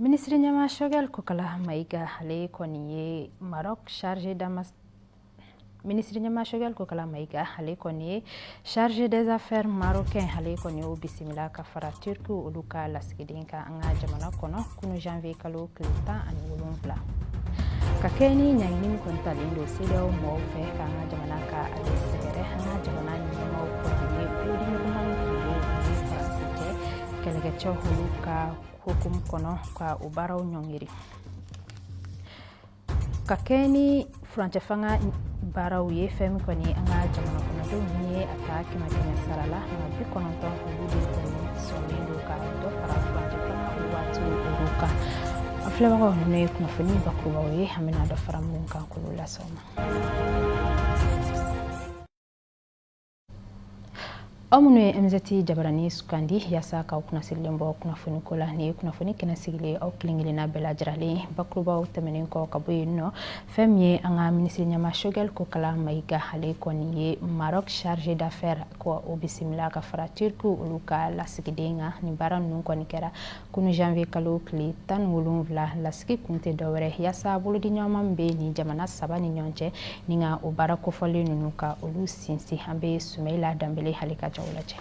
minisiri ɲɛmaa sɔgɛli kokala mayiga ale kɔni ye maroc charge damas minisiri ɲɛmaa sɔgɛli kokala mayiga ale kɔni ye charge des affaires marocain ale kɔni y'o bisimila ka fara turki olu ka lasigiden kan an ka jamana kɔnɔ kunu janvier kalo tile tan ani wolonfila ka kɛ ni ɲangini min kɔni talen don sedeyaw mɔgɔw fɛ k'an ka jamana ka ale sɛgɛrɛ an ka jamana ɲɛmaaw kɔni ye kulodimi ɲuman tun ye kɛlɛkɛcɛw olu ka hukumu kɔnɔ ka o baaraw ɲɔngiri ka kɛ ni furancɛ fanga baaraw ye fɛn min kɔni an ka jamana kɔnɔdenw ni ye a ta kɛmɛ kɛmɛ sara la a bi kɔnɔntɔn olu de kɔni sɔnnen don ka dɔ fara furancɛ fanga o waati olu kan an filɛbagaw nin ye kunnafoni bakurubaw ye an bɛna dɔ fara minnu kan k'olu lase aw ma aw minnu ye mzti jabarani sugandi yasa k'aw kunnasirilen bɔ kunnafoni ko la nin ye kunnafoni kɛnɛ sigilen aw kelen kelenna bɛɛ lajɛrɛlen bakurubaw tɛmɛnen kɔ ka bɔ yen nɔ fɛn min ye an ka minisiri ɲɛmaa shogɛl kokala mayiga ale kɔni ye maroc charge d'affaire ka o bisimila ka fara turki olu ka lasigiden kan nin baara ninnu kɔni kɛra kunu janvier kalo tile tan ni wolonfila lasigi kun tɛ dɔwɛrɛ yaasa bolodiɲɔgɔnma min bɛ nin jamana saba ni ɲɔgɔn cɛ ni ka o baara kofɔlen ninnu ka olu sinsin an bɛ sumɛyila danbele ale ka jaw lajɛ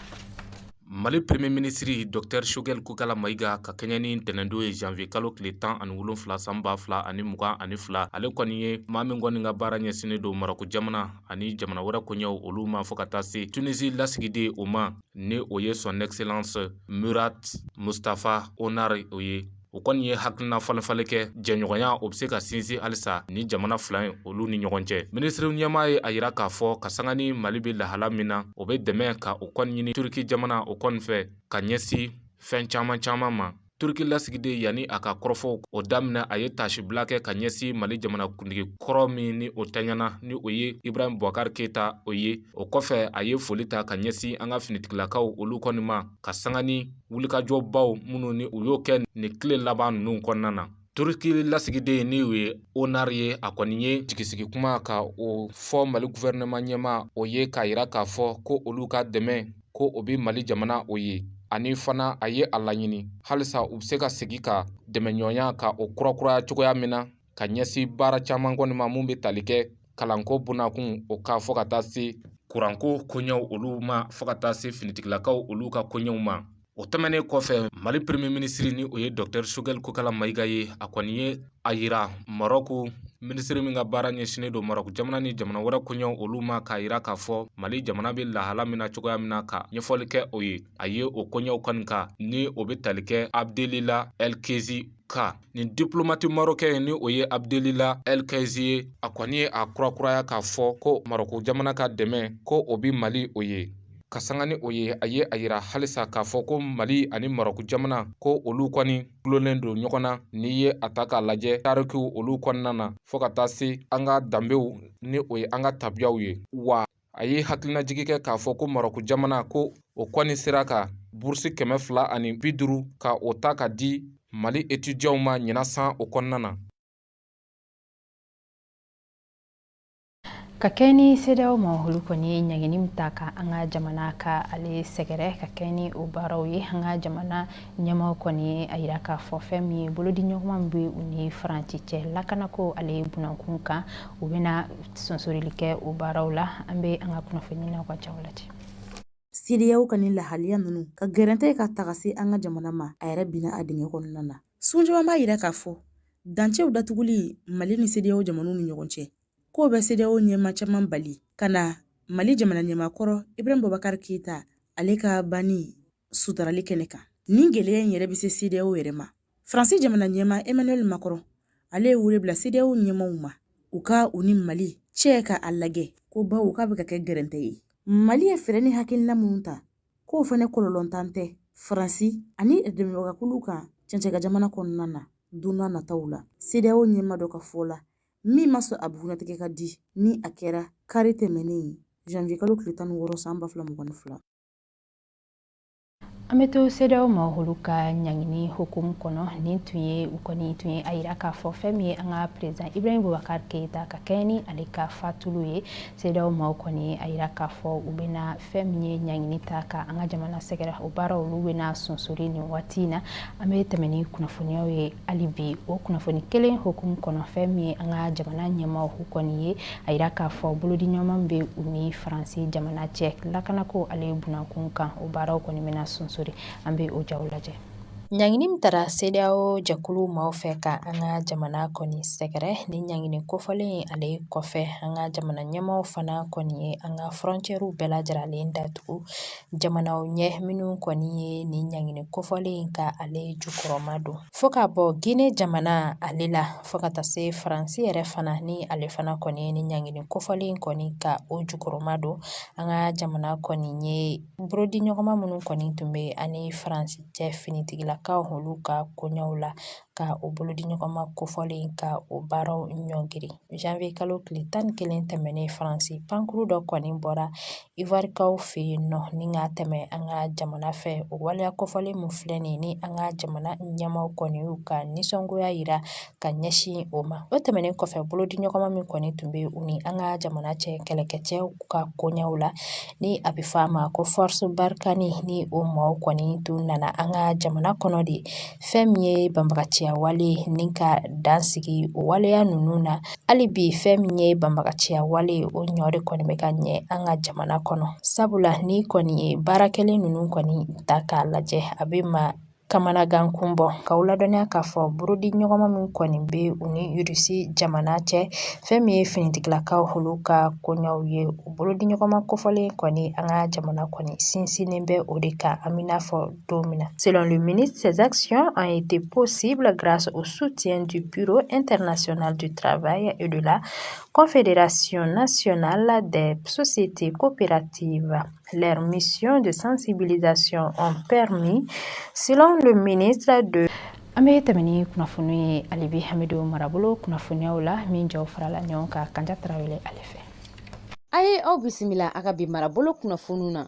mali premier minisiri dr shogɛl kokala mayiga ka kɛɲɛ ni ntɛnɛndon ye janvier kalo tile tan ani wolonfila san ba fila ani mugan ani fila ale kɔni ye maa min kɔni ka baara ɲɛsinnen don maroko jamana ani jamana wɛrɛ koɲɛw olu ma fɔɔ ka taa se tunisi lasigiden o ma ni o ye son excellence murat mustafa onar o ye o kɔni ye hakilinafalenfalen kɛ jɛɲɔgɔnya o bɛ se ka sinsin halisa ni jamana fila in olu ni ɲɔgɔn cɛ minisiri ɲɛmaa ye a yira k'a fɔ ka sanga ni mali bɛ lahala min na o bɛ dɛmɛ ka o kɔni ɲini turki jamana o kɔni fɛ ka ɲɛsin fɛn caman caman ma turki lasigiden yanni a ka kɔrɔfɔw o daminɛ a ye taasibila kɛ ka ɲɛsin mali jamanakuntigi kɔrɔ min ni o tanyana ni o ye ibrahim bubakar keyita o ye o kɔfɛ a ye foli ta ka ɲɛsin an ka finitigilakaw olu kɔni ma ka sanga ni wulikajɔbaw minnu ni u y'o kɛ nin tile laban ninnu kɔnɔna na Turiki lasigiden ni o ye onar ye a kɔni ye jigisigi kuma ka o fɔ mali gufɛrɛnɛman ɲɛmaa o ye k'a yira k'a fɔ ko olu ka dɛmɛ ko o bɛ mali jamana o ye ani fana a ye a laɲini halisa u bɛ se ka segin ka dɛmɛɲɔgɔnya ka o kurakuraya cogoya min na ka ɲɛsin baara caman kɔni ma minnu bɛ tali kɛ kalanko bonnakun o kan fo ka taa se kuranko koɲɛw olu ma fo ka taa se finitigilakaw olu ka koɲɛw ma o tɛmɛnen kɔfɛ mali premier minisiri ni o ye docteur shogɛli kokala mayiga ye a kɔni ye a yira marɔku minisiri min ka baara ɲɛsinnen don marɔku jamana ni jamana wɛrɛ koɲɛw olu ma k'a yira k'a fɔ mali jamana bɛ lahala min na cogoya min na ka ɲɛfɔli kɛ o ye a ye o koɲɛw kɔni kan ni o bɛ tali kɛ abdelila ɛlkezi kan nin diplomati marokɛn ni o ye abdelila ɛlkɛzi ye a kɔni ye a kurakuraya k'a fɔ ko marɔku jamana ka dɛmɛ ko o bi mali o ye ka sanga ni o ye a ye a yira halisa k'a fɔ ko mali ani marɔku jamana ko olu kɔni dulonnen don ɲɔgɔn na n'i ye a ta k'a lajɛ tarikiw olu kɔnɔna na fɔɔ ka taa se an ka danbew ni o ye an ka tabiyaw ye wa a ye hakilinajigi kɛ k'a fɔ ko marɔku jamana ko o kɔni sera ka burusi kɛmɛ fila ani bi duuru ka o ta ka di mali etidiyanw ma ɲinan san o kɔnɔna na ka kɛɲɛ ni CEDEAO maa olu kɔni ye ɲangini min ta ka an ka jamana ka ale sɛgɛrɛ ka kɛɲɛ ni o baaraw ye an ka jamana ɲɛmaaw kɔni a yira k'a fɔ fɛn min ye bolodiɲɔgɔnma min bɛ u ni faransi cɛ lakanako ale ye bunankun kan u bɛna sonsorili kɛ o baaraw la an bɛ an ka kunnafoni na ka jaw lajɛ CEDEAO ka ni lahaliya ninnu ka gɛrɛntɛ ka taga se an ka jamana ma a yɛrɛ binna a dingɛ kɔnɔna na sun caman b'a yira k'a fɔ dancɛw datuguli mali ni CEDEAO jamanaw ni ɲɔgɔn cɛ k'o bɛ CEDEAO ɲɛmaa caman bali ka na mali jamana ɲɛmaa kɔrɔ ibrahim bubakar keyita ale ka banni sutarali kɛnɛ kan nin gɛlɛya in yɛrɛ bɛ se CEDEAO yɛrɛ ma faransi jamana ɲɛmaa emmanuel macron ale ye wele bila CEDEAO ɲɛmaaw ma u ka u ni mali cɛ ka a lajɛ ko bawo k'a bɛ ka kɛ gɛrɛntɛ ye mali ye fɛɛrɛ ni hakilina minnu ta k'o fana kɔlɔlɔntan tɛ faransi ani dɛmɛbagakulu kan cɛncɛnkan jamana kɔnɔna na don n'a nataw la CEDEAO ɲɛmaa dɔ ka fɔ la min ma sɔn a bugunnatigɛ ka di ni a kɛra kari tɛmɛnen janvier kalo tile tan ni wɔɔrɔ san ba fila mugan ni fila an bɛ to CEDEAO maa olu ka ɲangini hukumu kɔnɔ nin tun ye u kɔni tun ye a yira k'a fɔ fɛn min ye an ka perezidan ibrahim bubakar keyita ka kɛɲɛ ni ale ka fatuli ye CEDEAO maaw kɔni a yira k'a fɔ u bɛna fɛn min ye ɲangini ta ka an ka jamana sɛgɛrɛ o baara olu bɛna sonsori nin waati in na an bɛ tɛmɛ ni kunnafoniyaw ye hali bi o kunnafoni kelen hukumu kɔnɔ fɛn min ye an ka jamana ɲɛmaaw u kɔni ye a yira k'a fɔ bolodiɲɔgɔnma bɛ u ni faransi jamana cɛ lakanako ale ye bunankun kan o baaraw kɔni bɛna sonsori an bɛ o jaw lajɛ ɲangini min tara CEDEAO jɛkulu maaw fɛ ka an ka jamana kɔni sɛgɛrɛ ni ɲangini kofɔlen ye ale kɔfɛ an ka jamana ɲɛmaaw fana kɔni ye an ka fɔrɔncɛriw bɛɛ lajɛlen datugu jamanaw ɲɛ minnu kɔni ye nin ɲangini kofɔlen ka ale jukɔrɔma don fo ka bɔ Gine jamana ale la fo ka taa se faransi yɛrɛ fana ni ale fana kɔni ye ni ɲangini kofɔlen in kɔni ka o jukɔrɔma don an ka jamana kɔni ye bolodiɲɔgɔnma minnu kɔni tun bɛ a ni faransi cɛ finitigilakaw olu ka koɲɛw la ka o bolodiɲɔgɔnma kofɔlen ka o baaraw ɲɔngiri janvier kalo tile tan ni kelen tɛmɛnen faransi pankuru dɔ kɔni bɔra Iwarikaw fɛ yen nɔ ni ka tɛmɛ an ka jamana fɛ o waleya kofɔlen min filɛ nin ni an ka jamana ɲɛmaaw kɔni y'u ka nisɔngoya yira ka ɲɛsin o ma o tɛmɛnen kɔfɛ bolodiɲɔgɔnma min kɔni tun bɛ u ni an ka jamana cɛ kɛlɛkɛcɛw ka koɲɛw la ni a bɛ fɔ a ma ko force Barkhane ni o maaw kɔni tun nana an ka jamana kɔnɔ de fɛn min ye banbagaciya wale ni ka dan sigi o waleya ninnu na hali bi fɛn min ye banbagaciya wale ye o ɲɔ de kɔni bɛ ka ye an ka jamana kɔnɔ sabula n'i kɔni ye baara kɛlen ninnu kɔni ta k'a lajɛ a bɛ maa kamanagan kun bɔ k'aw ladɔnniya k'a fɔ bolodiɲɔgɔnma min kɔni bɛ u ni irisi jamana cɛ fɛn min ye finitigilakaw olu ka koɲɛw ye o bolodiɲɔgɔnma kofɔlen kɔni an ka jamana kɔni sinsinnen bɛ o de kan an bɛ n'a fɔ don min na selon le ministre ces actions ont été possibles grâce au soutien du bureau international du travail et de la confédération nationale des sociétés coopératives leurs missions de sensibilisation ont permis selon le ministre de an bɛ tɛmɛ ni kunnafoni ye hali bi an bɛ don marabolo kunnafoniyaw la min jaw farala ɲɔgɔn kan kanja tarawele ale fɛ a ye aw bisimila a ka bi marabolo kunnafoniw na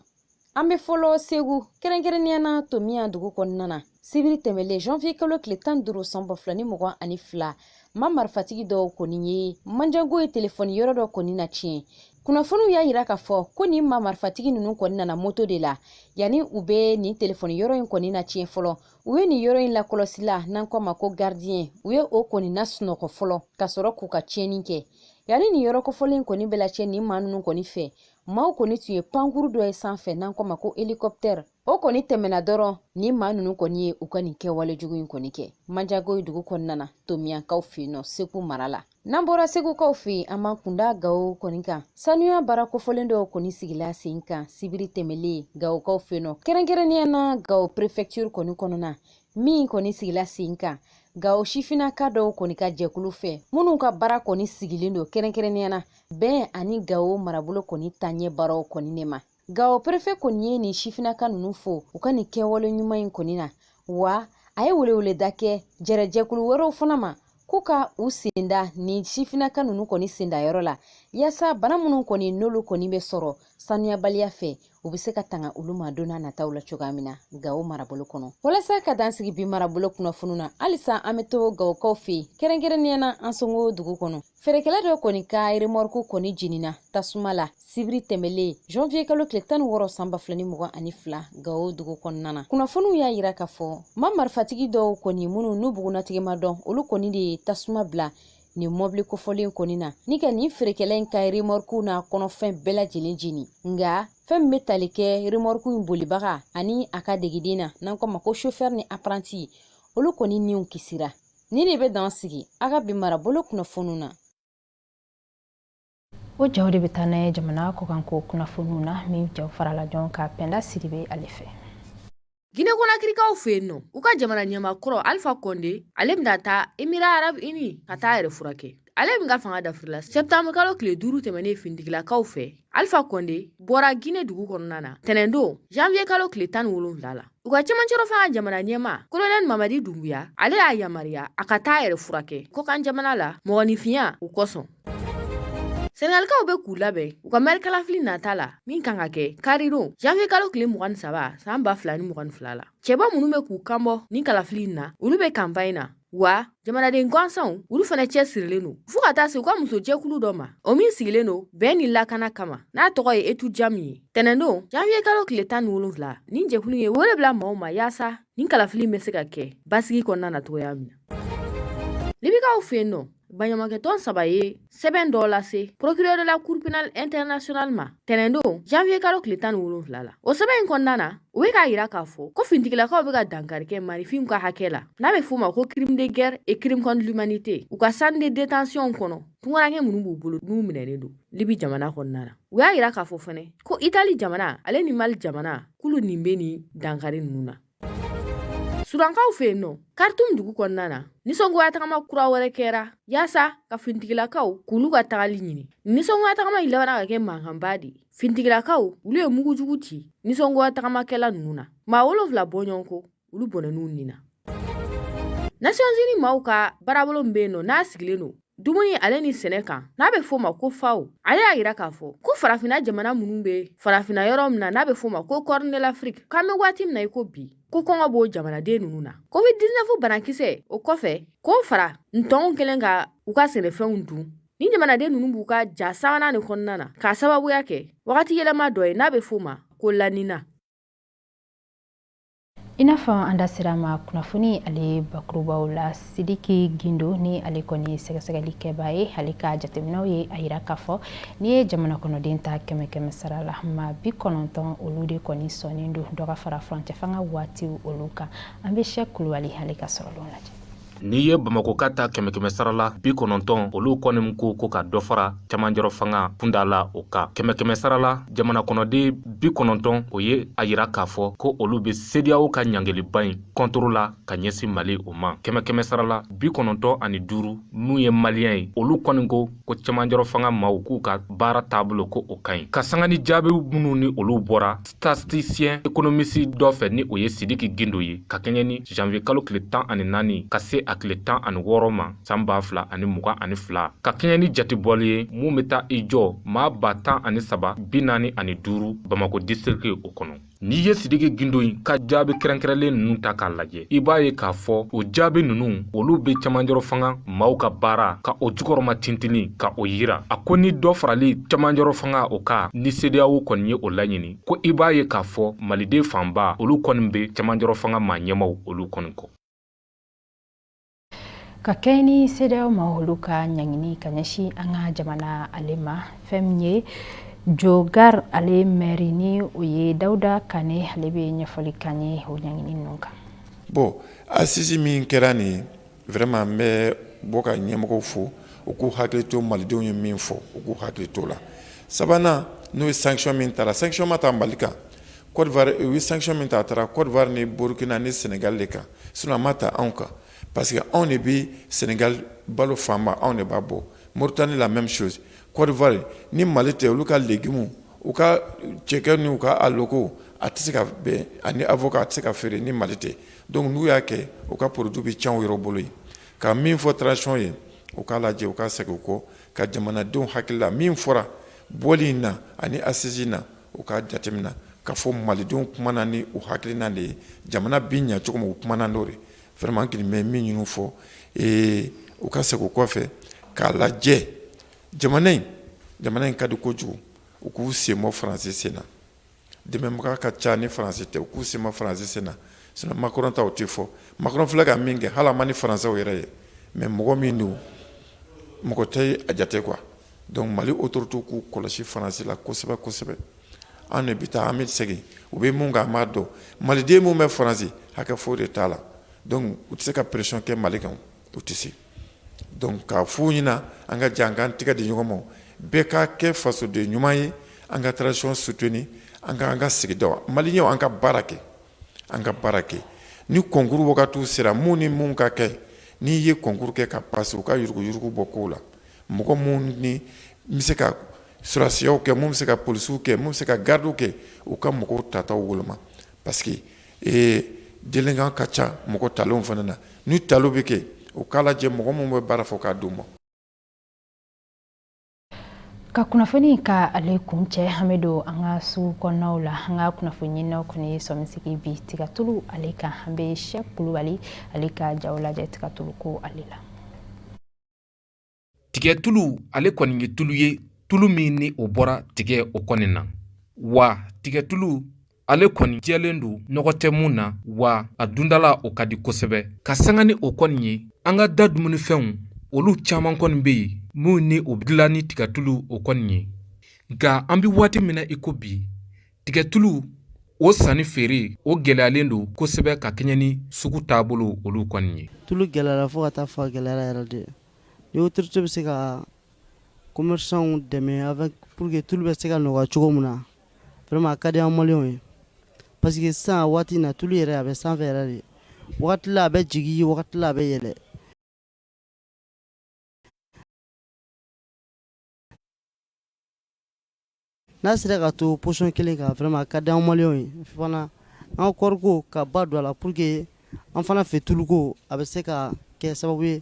an bɛ fɔlɔ segu kɛrɛnkɛrɛnnenya na tominiyan dugu kɔnɔna na sibiri tɛmɛlen janvier kalo tile tan ni duuru san ba fila ni mugan ani fila maa marifatigi dɔw kɔni ye manjakuyi telefɔni yɔrɔ dɔ kɔni natiɲɛ kunnafoniw y'a yira k'a fɔ ko nin maa marifatigi ninnu kɔni nana moto de la yanni u bɛ nin telefɔni yɔrɔ in kɔni natiɲɛ fɔlɔ u ye nin yɔrɔ in lakɔlɔsila n'an k'o ma ko gardien u ye o kɔni nasunɔgɔ fɔlɔ ka sɔrɔ k'u ka tiɲɛni kɛ yanni nin yɔrɔ kofɔlen kɔni bɛ lacɛ nin maa ninnu kɔni fɛ maaw kɔni tun ye pankuru dɔ ye sanfɛ n'an k'o ma ko helikɔptɛri o kɔni tɛmɛna dɔrɔn nin maa ninnu kɔni ye u ka nin kɛwale jugu in kɔni kɛ manjakuyi dugu kɔnɔna na tominiyankaw fɛ yen nɔ segu mara la n'an bɔra segukaw fɛ yen an b'an kun da gawo kɔni kan sanuya baara kofɔlen dɔw kɔni sigila sen kan sibiri tɛmɛlen gawokaw fɛ yen nɔ kɛrɛnkɛrɛnnenya na gawo prefɛktiri kɔni kɔnɔna min kɔni sigila sen kan gawo sifinnaka dɔw kɔni ka jɛkulu fɛ minnu ka baara kɔni sigilen don kɛrɛnkɛrɛnnenya na bɛn ani gawo marabolo kɔni taɲɛ baaraw kɔni ne ma gawo perefe kɔni ye nin sifinaka ninnu fo u ka nin kɛwale ɲuman in kɔni na wa a ye weleweleda kɛ jɛrɛjɛkulu wɛrɛw fana ma k'u ka u senda nin sifinaka ninnu kɔni sendayɔrɔ la yaasa bana minnu kɔni n'olu kɔni bɛ sɔrɔ sanuyabaliya fɛ u bɛ se ka tanga olu ma donna nataw la cogoya min na gawo marabolo kɔnɔ walasa ka dan sigi bi marabolo kunnafoniw na halisa an bɛ to gawokaw fɛ yen kɛrɛnkɛrɛnnenya na ansongo dugu kɔnɔ feerekɛla dɔ kɔni ka remɔrku kɔni jenina tasuma la sibiri tɛmɛlen janvier kalo tile tan ni wɔɔrɔ san ba fila ni mugan ani fila gawo dugu kɔnɔna na kunnafoniw y'a yira k'a fɔ maa marifatigi dɔw kɔni minnu n'u bugunatigɛ ma dɔn olu kɔni de ye tasuma bila nin mɔbili kofɔlen kɔni na ni ka nin feerekɛla in ka remɔrku n'a kɔnɔfɛn bɛɛ lajɛlen jeni nga fɛn min be tali kɛ remɔrku in bolibaga ani a ka degiden na n'an k'o ma ko chofɛr ni apranti olu kɔni niw kisira Nin de bɛ dan sigi a ka bi marabolo kunnafoniw na o jaw de bɛ taa n'a ye jamana kɔkanko kunnafoniw na min jaw farala ɲɔgɔn kan Pɛnda Sidibe ale fɛ Gine Konakirikaw fɛ yen nɔ u ka jamana ɲɛmaa kɔrɔ Alpha Conde ale bɛna taa Emira Arab Uni ka taa a yɛrɛ furakɛ. ale min ka fanga dafirila sɛtanburukalo tile duuru tɛmɛnen finitigilakaw fɛ alifa kɔnde bɔra ginɛ dugu kɔnɔna na tɛnɛndon janviye kalo tile tan ni wolonfila la u ka cɛmancɛrɔfanga jamana ɲɛmaa kolonɛli mamadi dunbuya ale y'a yamaruya a ka taa yɛrɛ furakɛ kɔkan jamana la mɔgɔninfinya u kosɔn sɛnɛgalikaw bɛ k'u labɛn u ka mɛrikalafili nata la min kan ka kɛ karidon janviye kalo tile mugan ni saba san ba fila ni mugan ni fila la cɛbɔ minnu bɛ k'u kanbɔ nin kalafili in na olu bɛ kanpaɲi na wa jamanaden gansanw olu fana cɛsirilen don fo ka taa se u ka musojɛkulu dɔ ma o min sigilen don bɛn ni lakana kama n'a tɔgɔ ye etu jamu ye tɛnɛndon janviye kalo tile tan ni wolonfila nin jɛkulu ye wele bila maaw ma yaasa nin kalafili bɛ se ka kɛ basigi kɔnɔna na cogoya min na libikaw fɛ yen nɔ baɲumankɛtɔn saba ye sɛbɛn dɔ lase procureur de la cour pénale internationale ma tɛnɛndon janvier kalo tile tan ni wolonfila la o sɛbɛn in kɔnɔna na u be k'a yira k'a fɔ ko fintigilakaw be ka dankari kɛ maaninfinw ka hakɛ la n'a be f'o ma ko crime de guerre et crime contre l'humanité u ka centre de détention kɔnɔ tungarankɛ minnu b'u bolo n'u minɛlen don libi jamana kɔnɔna na u y'a yira k'a fɔ fɛnɛ ko itali jamana ale ni malte jamana k'olu nin be nin dankari nunu na Sudankaw fɛ yen nɔ karitum dugu kɔnɔna na nisɔngoya tagama kura wɛrɛ kɛra yaasa ka finitigilakaw k'olu ka tagali ɲini nisɔngoya tagama in labanna ka kɛ mankanba de ye finitigilakaw olu ye mugujugu ci nisɔngoya tagamakɛla ninnu na maa wolonfila bɔɲɔgɔn ko olu bɔnɛn'u nin na nasiyɔnzini maaw ka baarabolo min bɛ yen nɔ n'a sigilen don dumuni ale ni sɛnɛ kan n'a bɛ f'o ma ko FAO ale y'a yira k'a fɔ ko farafina jamana minnu bɛ farafina yɔrɔ min na n'a bɛ f'o ma ko Corne de l'Afrique k'an bɛ waati min na i ko bi ko kɔngɔ b'o jamanaden ninnu na covid 19 banakisɛ o kɔfɛ k'o fara ntɔnw kɛlen ka u ka sɛnɛfɛnw dun ni jamanaden ninnu b'u ka ja sabanan nin kɔnɔna na k'a sababuya kɛ wagati yɛlɛma dɔ ye n'a bɛ f'o ma ko La Nina I n'a fɔ an da sera ma kunnafoni ale bakurubaw la sidiki gindo ni ale kɔni sɛgɛsɛgɛlikɛba ye ale ka jateminɛw ye a yira k'a fɔ n'i ye jamana kɔnɔden ta kɛmɛ kɛmɛ sara la ma bi kɔnɔntɔn olu de kɔni sɔnnen don dɔ ka fara furancɛ fanga waati olu kan an bɛ sɛki kulubali ale ka sɔrɔlenw lajɛ N'i ye bamakɔkaw ta kɛmɛ kɛmɛ sarala bi kɔnɔntɔn olu kɔni ko ko ka dɔ fara camanjɔrɔ fanga kunda la o kan kɛmɛ kɛmɛ sarala jamana kɔnɔden bi kɔnɔntɔn o ye a yira k'a fɔ ko olu bɛ CEDEAO ka ɲangiliba in contre la ka ɲɛsin mali o ma kɛmɛ kɛmɛ sarala bi kɔnɔntɔn ani duuru minnu ye malien ye olu kɔni ko ko camanjɔrɔ fanga maaw k'u ka baara taabolo ko o ka ɲi ka sanga ni jaabi minnu ni olu bɔra statisticien économiste dɔ fɛ ni o ye sidiki gindo ye ka kɛɲɛ ni janvier kalo tile tan ani naani ka se a tile tan ani wɔɔrɔ ma san ba fila ani mugan ani fila ka kɛɲɛ ni jatebɔli ye mun bɛ taa i jɔ maa ba tan ani saba bi naani ani duuru bamako district o kɔnɔ n'i ye sidiki gindo in ka jaabi kɛrɛnkɛrɛnlen ninnu ta k'a lajɛ i b'a ye k'a fɔ o jaabi ninnu olu bɛ camanjɔrɔ fanga maaw ka baara ka o jukɔrɔma tintini ka o yira a ko ni dɔ farali camanjɔrɔ fanga o kan ni CEDEAO kɔni ye o laɲini ko i b'a ye k'a fɔ maliden fanba olu kɔni bɛ camanjɔrɔ fanga maa ɲɛmaaw olu kɔni kɔ ka kɛɲɛ ni CEDEAO maa olu ka ɲangini ka ɲɛsin an ka jamana ale ma fɛn min ye jogar ale mɛri ni o ye dawuda kane ale bɛ ɲɛfɔli k'an ye o ɲangini ninnu kan bon assise min kɛra nin vraiment n bɛ bɔ ka ɲɛmɔgɔw fo u k'u hakili to malidenw ye min fɔ u k'u hakili to la sabanan n'o ye sanction min tara sanction ma ta mali kan u ye sanction min ta a tara cote d'ivoire ni burkina ni senegal de kan Sinon a ma ta anw kan parce que anw de bɛ Senegal balo fanba anw de b'a bɔ Mauritanie la même chose Cote d'Ivoire ni Mali tɛ olu ka légumes u ka cɛkɛ n'u ka aloko a tɛ se ka bɛn ani avocat a tɛ se ka feere ni Mali tɛ donc n'u y'a kɛ u ka produit bɛ tiɲɛ u yɛrɛ bolo yen ka min fɔ transition ye u k'a lajɛ u ka segin u kɔ ka jamanadenw hakili la min fɔra bɔli in na ani assise in na U ka jateminɛ k'a fɔ malidenw kuma na ni u hakilina de ye jamana bɛ ɲɛ cogo min u kuma na n'o vraiment kelen bɛ min ɲini fɔ ee u ka segin u kɔfɛ k'a lajɛ jamana in jamana in ka di kojugu u k'u senbɔ faransi sen na dɛmɛbaga ka ca ni faransi tɛ u k'u senbɔ faransi sen na sinon Macron ta o tɛ fɔ Macron filɛ ka min kɛ hali a man di faransɛw yɛrɛ ye mais mɔgɔ min don mɔgɔ tɛ a jate quoi Donc mali autorité k'u kɔlɔsi faransi la kosɛbɛ kosɛbɛ an de bɛ taa an bɛ segin u bɛ min kan an b'a dɔn maliden min bɛ faransi hakɛ foyi de t'a la u tɛ se ka pression kɛ mali kan u tɛ se k'a f'u ɲɛna an ka jɛ an ka an tɛgɛ di ɲɔgɔn ma bɛɛ ka kɛ fasoden ɲuman ye an ka transition soutenir ni an ka an ka sigida mali ɲɛ an ka baara kɛ an ka baara kɛ ni concours wagatiw sera minnu ni minnu ka kɛ n'i ye concours kɛ ka passer u ka yuruguyurugu bɔ kow la Mɔgɔ minnu ni bɛ se ka sɔrɔdasiyaw kɛ min bɛ se ka polisiw kɛ min bɛ se ka garidiw kɛ u ka mɔgɔw tataw woloma parce que ee délinquant ka ca mɔgɔ talenw fana na ni talo bɛ kɛ u k'a lajɛ mɔgɔ minnu bɛ baara fɔ k'a di u ma ka kunnafoni ka ale kuncɛ an bɛ don an ka sugu kɔnɔnaw la an ka kunnafoni ɲinina kɔni ye sɔmisigi bi tigatulu ale kan an bɛ sɛki kulubali ale ka jaw lajɛ tigatulu ko ale la tigɛtulu ale kɔni ye tulu ye tulu min ni o bɔra tigɛ o kɔni na wa tigɛtulu ale kɔni jɛlen don nɔgɔ tɛ min na wa a dundala o ka di kosɛbɛ ka sanga ni o kɔni ye an ka da dumunifɛnw olu caman kɔni bɛ yen minnu ni o dilan ni tigatulu o kɔni ye nka an bɛ waati min na iko bi tigɛtulu o sanni feere o gɛlɛyalen don kosɛbɛ ka kɛɲɛ ni sugu taabolo olu kɔni ye tulu gɛlɛyara fo ka taa fɔ a gɛlɛyara yɛrɛ de ni autorité bɛ se ka commerçants dɛmɛ a bɛ pour que tulu bɛ se ka nɔgɔya cogo min na vraiment a ka di an maliyɛnw ye parce que sisan waati in na tulu yɛrɛ a bɛ sanfɛ yɛrɛ de wagati a bɛ jigin wagati a bɛ yɛlɛ n'a sera ka to psɔn kelen ka fɛma ka di anwma ye fana an kɔriko ka ba don a la pour que an fana fɛ tuluko a bɛ se ka kɛ sababu ye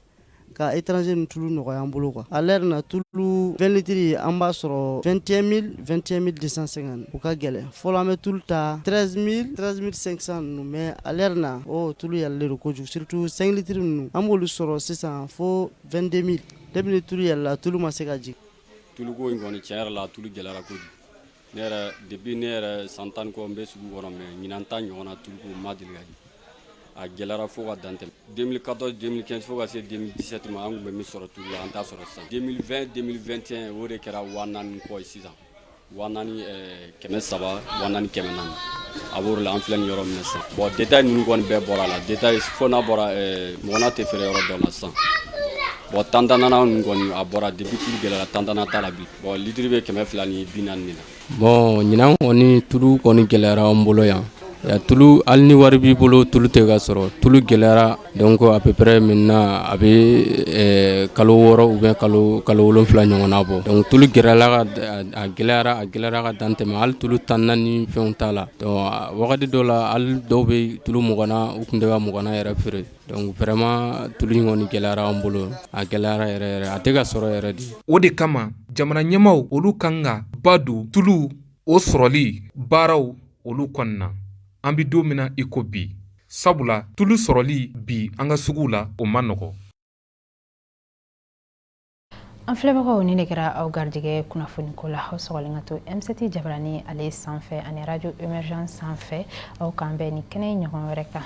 ka e tranz ni tulu nɔgɔya an bolo kan ale yɛrɛ na tulu2tiri an b'a sɔrɔ fɛnɛn mi2ɛn mi de sɛgɛn u ka gɛlɛn fɔlɔ an bɛ tulu ta trɛnz mi trɛnɛnz mi sensan ninnu mɛ ale yɛrɛ na o tulu yɛrɛre de kojugutu senlitiri ninnu an b'olu sɔrɔ sisan fo2den mi Da tu yɛlɛla tulu ma se ka jigin tuluko in kɔni cɛ la tulu jɛra ko ne yɛrɛ debi ne yɛrɛ san tan kɔ n bɛ sugu kɔnɔ mɛ ɲinan tan ɲɔgɔn na tulu ma deli ka a jɛra fo ka dantɛ den katɔ den kɛ fo ka se den disati ma an tun bɛ min sɔrɔ tu la an t' sɔrɔ san den den2 o de kɛra w kɔ sisan Wa naani kɛmɛ saba wa naani kɛmɛ naani a b'o la an filɛ nin yɔrɔ min na sisan bon détail ninnu kɔni bɛɛ bɔra a la détail fo n'a bɔra muganna tɛ feere yɔrɔ dɔ la sisan bon tantanna ninnu kɔni a bɔra depuis tulu gɛlɛyara tantanna t'a la bi bon litiri bɛ kɛmɛ fila ni bi naani na bon ɲinan kɔni tulu kɔni gɛlɛyara an bolo yan Tulu hali ni wari b'i bolo tulu tɛ ka sɔrɔ tulu gɛlɛyara donc à peu près maintenant a bɛ kalo wɔɔrɔ ou bien kalo wolonwula ɲɔgɔn bɔ donc tulu gɛlɛyara a gɛlɛyara ka dan tɛmɛ hali tulu tanna ni fɛn t'a la wagati dɔ la hali dɔw bɛ tulu muganna u tun tɛ ka muganna yɛrɛ feere donc vraiment tulu in kɔni gɛlɛyara an bolo a gɛlɛyara yɛrɛ a tɛ ka sɔrɔ yɛrɛ de o de kama jamana ɲɛmaw olu kan ka ba don tulu o sɔrɔli baaraw olu kɔni na an bɛ don min na iko bi sabula tulu sɔrɔli bi an ka sugu la o ma nɔgɔ an filɛbagaw ni ne kɛra aw garijɛgɛ kunnafoniko la aw sɔgɔlen ka to M7 jabarani ale sanfɛ ani radio emergence sanfɛ aw k'an bɛn nin kɛnɛ ɲɔgɔn wɛrɛ kan